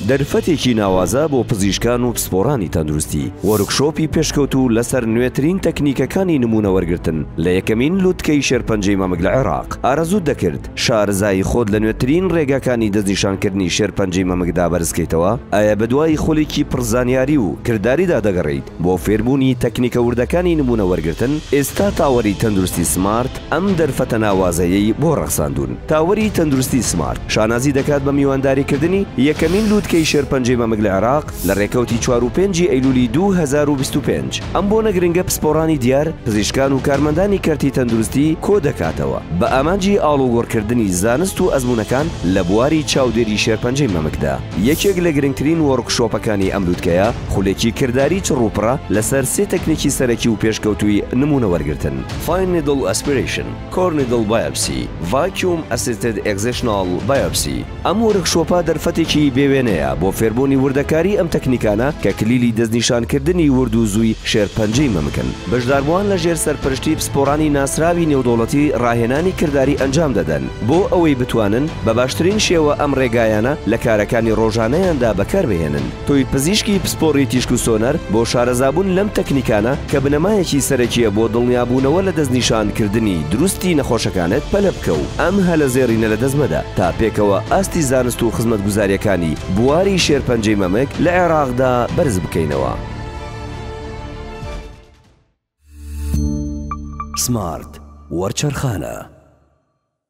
دەرفەتێکی ناوازە بۆ پزیشکان و پسپۆڕانی تەندروستی، وۆرکشۆپی پێشکەوتوو لەسەر نوێترین تەکنیکەکانی نموونە وەرگرتن لە یەکەمین لوتکەی شێرپەنجەی مەمک لە عێراق، ئارەزووت دەکرد شارەزایی خۆت لە نوێترین ڕێگاکانی دەستنیشانکردنی شێرپەنجەی مەمکدا بەرزکەیتەوە؟ ئایا بەدوای خولێکی پڕ زانیاری و کرداریدا دەگەڕێیت بۆ فێربوونی تەکنیکە وردەکانی نموونە وەرگرتن؟ ئێستا تاوەری تەندروستی سمارت، ئەم دەرفەتە ناوازەیەی بۆ ڕەخساندوون. تاوەری تەندروستی سمارت شانازی دەکات بە میوانداریکردنی یەکەمین لووتکەی شێرپەنجەی مەمک لە عێراق لە ڕێکەوتی چوار و پێنجی ئەیلوولی دوو هەزار و بیست و پێنج. ئەم بۆنە گرنگە پسپۆڕانی دیار، پزیشکان و کارمەندانی کەرتی تەندروستی کۆدەکاتەوە بە ئامانجی ئاڵوگۆڕکردنی زانست و ئەزموونەکان لە بواری چاودێری شێرپەنجەی مەمکدا. یەکێک لە گرنگترین وۆرکشۆپەکانی ئەم لووتکەیە، خولێکی کرداری چڕوپڕە لەسەر سێ تەکنیکی سەرەکی و پێشکەوتووی نموونەوەرگرتن. Fine Needle Aspiration، Core Needle Biopsy، Vacuum Assisted Excisional Biopsy، ئەم وۆرکشۆپە دەرفەتێکی بێ وێنەیە بۆ فێربوونی وردەکاری ئەم تەکنیکانە کە کلیلی دەستنیشانکردنی ورد و زووی شێرپەنجەی مەمکن. بەشداربووان لەژێر سەرپەرشتی پسپۆڕانی ناسراوی نێودەوڵەتی ڕاهێنانی کرداری ئەنجام دەدەن بۆ ئەوەی بتوانن بە باشترین شێوە ئەم ڕێگایانە لە کارەکانی ڕۆژانەیاندا بەکاربهێنن. تۆی پزیشکی پسپۆڕی تیشک و سۆنەر بۆ شارەزابوون لەم تەکنیکانە کە بنەمایەکی سەرەکییە بۆ دڵنیابوونەوە لە دەستنیشانکردنی دروستی نەخۆشەکانت پەلە بکە و ئەم هەلە زێڕینە لە دەست مەدە تا پێکەوە ئاستی زانست و خزمەتگوزارییەکانی بواری شێرپەنجەی مەمک لە عێراقدا بەرز بکەینەوە. سمارت وەرچەرخانە.